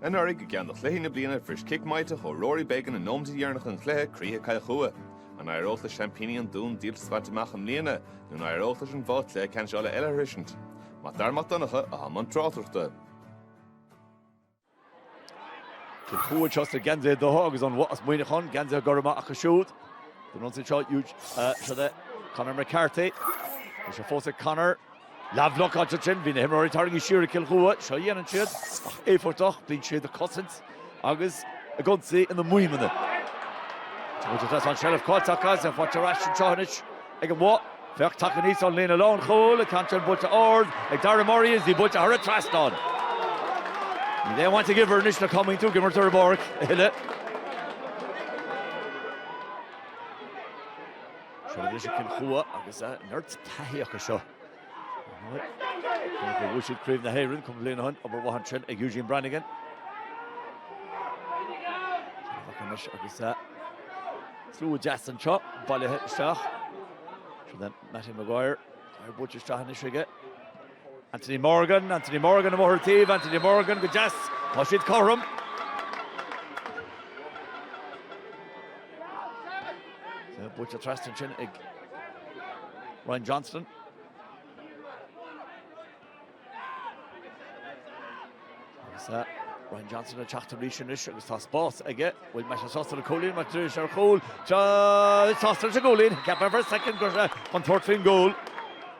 Anuraidh, i gceann de chluichí na bliana, bhris cic maíteach ó Rory Beggan i nóiméid dheireanacha an chluiche croíthe Chill Chua. An éireoidh le seaimpíní an Dúin díoltas a bhaint amach i mbliana, nó an éireoidh leis an Bhoth cluiche ceannais Uladh eile a shroichint? Mac Dara Mac Donncha, i mbun na tráchtaireachta. Cill Chua iad seo sna geansaithe dubha agus an Bhoth as Muineachán, geansaithe gorma acu siúd? Don ionsaí seo, chuig Conor McCarthy. Tá sé fós ag Conor. Leathbhlocáil ansin, bhí na himreoirí tarraingthe siar ag Cill Chua. Seo a dhéanann siad, an-éifeachtach, bíonn siad ag cosaint agus ag ionsaí ina maidhmeanna. Tá muid ag tosú an seilbh caillte acu agus í buaite ar ais anseo anois ag an mBoth. Féach, tagtha aníos ón líne lánchúil, an ceann seo buailte ard ag Darragh Murray is í buailte thar an trasnán. Níl aon bhaint ag uimhir anois le cá mbíonn tú ag imirt ar an bpáirc a thuilleadh. Seo arís Cill Chua agus neart taithí acu seo. Bhuaigh siad Craobh na hÉireann cúpla bliain ó shin, obair mhaith ansin ag Eugene Brannigan. Agus agus slua deas anseo, bailithe isteach. Seo Mattie Maguire, í buailte isteach anois aige. Anthony Morgan, Anthony Morgan i mBóthar Taoibh, Anthony Morgan go deas, tá siad cothrom. Buailte trasna ansin ag Ryan Johnston. Seo Ryan Johnston ag teacht arís anois agus tá spás aige an mbeidh sé sásta le cúilín nó triail ar chúl sásta leis an gcúilín cheap mé ar feadh soicind go raibh sé chun tabhairt faoin gcúl.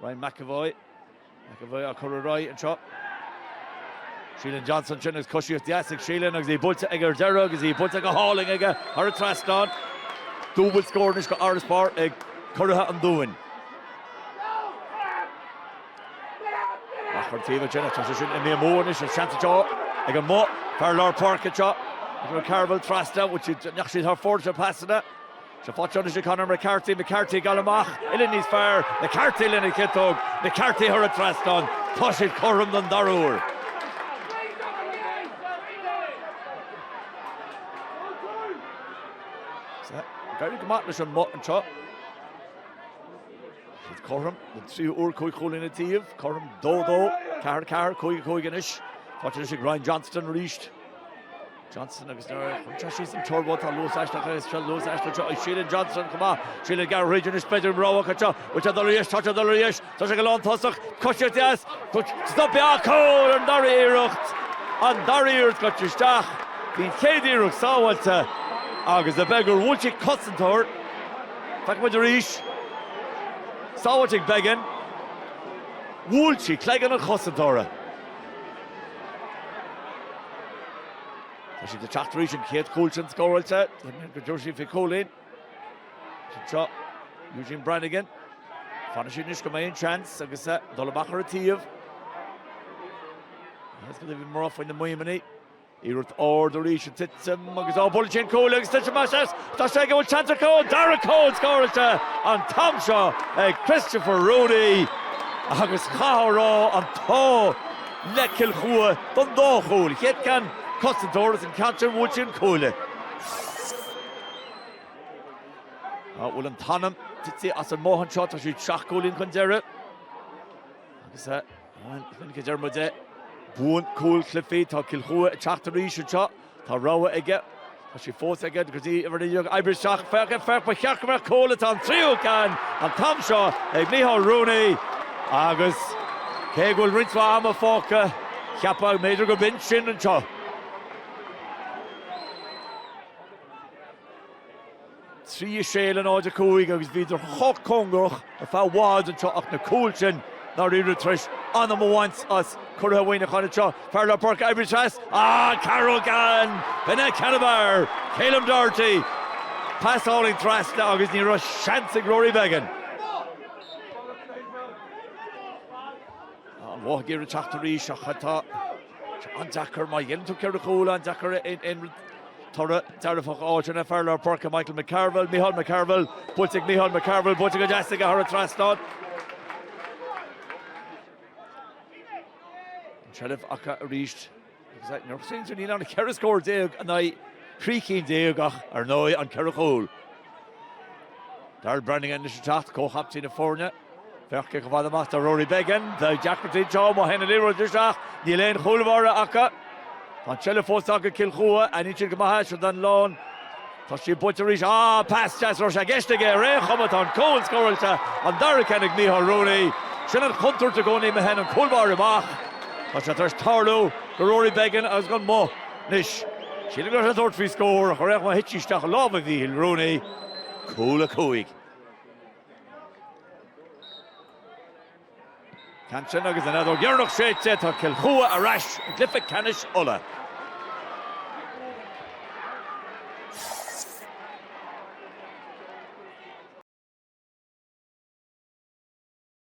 Ryan McEvoy. McEvoy á chur ar aghaidh anseo. Shealan Johnston ansin agus coisíocht dheas ag Shealan agus í buailte aige ar deireadh agus í buailte go hálainn aige thar an trasnán. Dúbail scór anois de fharasbarr ag curaithe an Dúin. Á cur taobh ansin, tá sé sin i mí mór anois an seans atá ag an mó fear lár páirce seo. Agus McCarville trasna, bhfuil siad ndeachaigh siad thar fóir sna pasanna. Tá sí faighte anois ag Conor McCarthy, McCarthy ag dul amach uillinn níos fearr, McCarthy lena chiotóg, McCarthy thar an trasnán, tá siad cothrom don dara huair. D'éirigh go maith leis an mBoth anseo. Siad cothrom don tríú uair cúig chúilín an taobh, cothrom dó dó, ceathair ceathair, cúig a cúig anois. Faighte anois ag Ryan Johnston arís. Johnston agus nuair a chuirtear síos an turbó tá luas aisteach aige seo luas aisteach seo ag Shealan Johnston chomh maith. Shealan ag gearradh thríd anois b'fhéidir an rogha seo. Bhfuil sé dul ar dheis tá sé dul ar dheis tá sé ag an lántosach cos dheas ach stoptha cúl an dara iarracht an dara iarracht gaibhte isteach bhí an chéad iarracht sábháilte agus b'fhéidir gur bhuail sí cosantóir feicfidh muid arís sábháilte ag Beggan bhuail sí cloigeann an chosantóra. Tá siad ag teacht arís an chéad chúl sin scóráilte. Déarfainn go dtabharfaidh siad faoi chúilín. Anseo Eugene Branagan. Fanann siad anois go mbeidh an seans agus dul amach ar an taobh. Bhí mná faoina maidhmeanna. Iarracht ard arís ag titim agus á bhuail sí an cuaille agus titim amach as tá sé go bhfuil seans acu an dara cúl scóráilte an t-am seo ag Christopher Rooney agus caithfear a rá an t-ádh le Cill Chua don dá chúl chéad cheann cosantóir is an ceann seo bhuail sí an cuaille. An bhfuil an t-anam tite as an mBoth anseo tá siad seacht gcúilín chun deiridh agus Minic a deir muid é. Buann cúil cluichí. Tá Cill Chua ag teacht arís anseo. Tá rogha aige. Tá sí fós aige go dtí uimhir 9 ag oibriú isteach. Féach, ba cheart go mbeadh cúl, tá, an tríú ceann an t-am seo ag Micheál Rooney agus cé go bhfuil roinnt mhaith ama fágtha, cheapfá go mb'fhéidir gurb in sin anseo. 3-6 0-5 agus bhíodar chomh cóngarach ar feadh i bhfad anseo ach na cúil sin i ndáiríre tar éis anam a bhaint as curaithe Mhuineacháin anseo. Fear lár páirce oibriú trasna ag Carroll gan bheith ina sheanfhear, Ceilum Doherty. Pas álainn trasna agus ní raibh seans ag Rory Beggan. An Bhoth ag iarraidh teacht arís ach tá An-deacair, má ghéilleann tú ceithre chúl, an-deacair aon toradh dearfach a fháil. Fear lár páirce Michael McCarville, Micheál McCarville, buailte ag Micheál McCarville, buailte go deas aige thar an trasnán. An seilbh acu arís. Mar sin níl ann ach ceithre scór déag in aghaidh trí cinn déag ach ar ndóigh an ceithre chúl. Darryl Branagan anois ag teacht comhchaptaen na foirne. Féach chomh fada amach is atá Rory Beggan, beidh deacrachtaí anseo má théann an liathróid isteach, níl aon chúl báire acu. Tá an seilbh fós acu ag Cill Chua, aithníonn siad go maith é, seo Devlin, tá sí buaite arís, á, pas deas, raibh sé i gceist aige ar aon chuma, tá an cúl scóráilte, an dara ceann ag Micheál Rooney. Sin an chontúirt i gcónaí má théann an cúl báire amach, tá sé tar éis tarlú do Rory Beggan agus gan mhoill. Anois, sílim go raibh sé ag tabhairt faoi scór ach ar aon chuma thit sí isteach i lámha Mhíchíl Rooney. Cúl a cúig. Ceann sin agus an fheadóg dheireanach séidte, tá Cill Chua ar ais i gcluiche ceannais Uladh.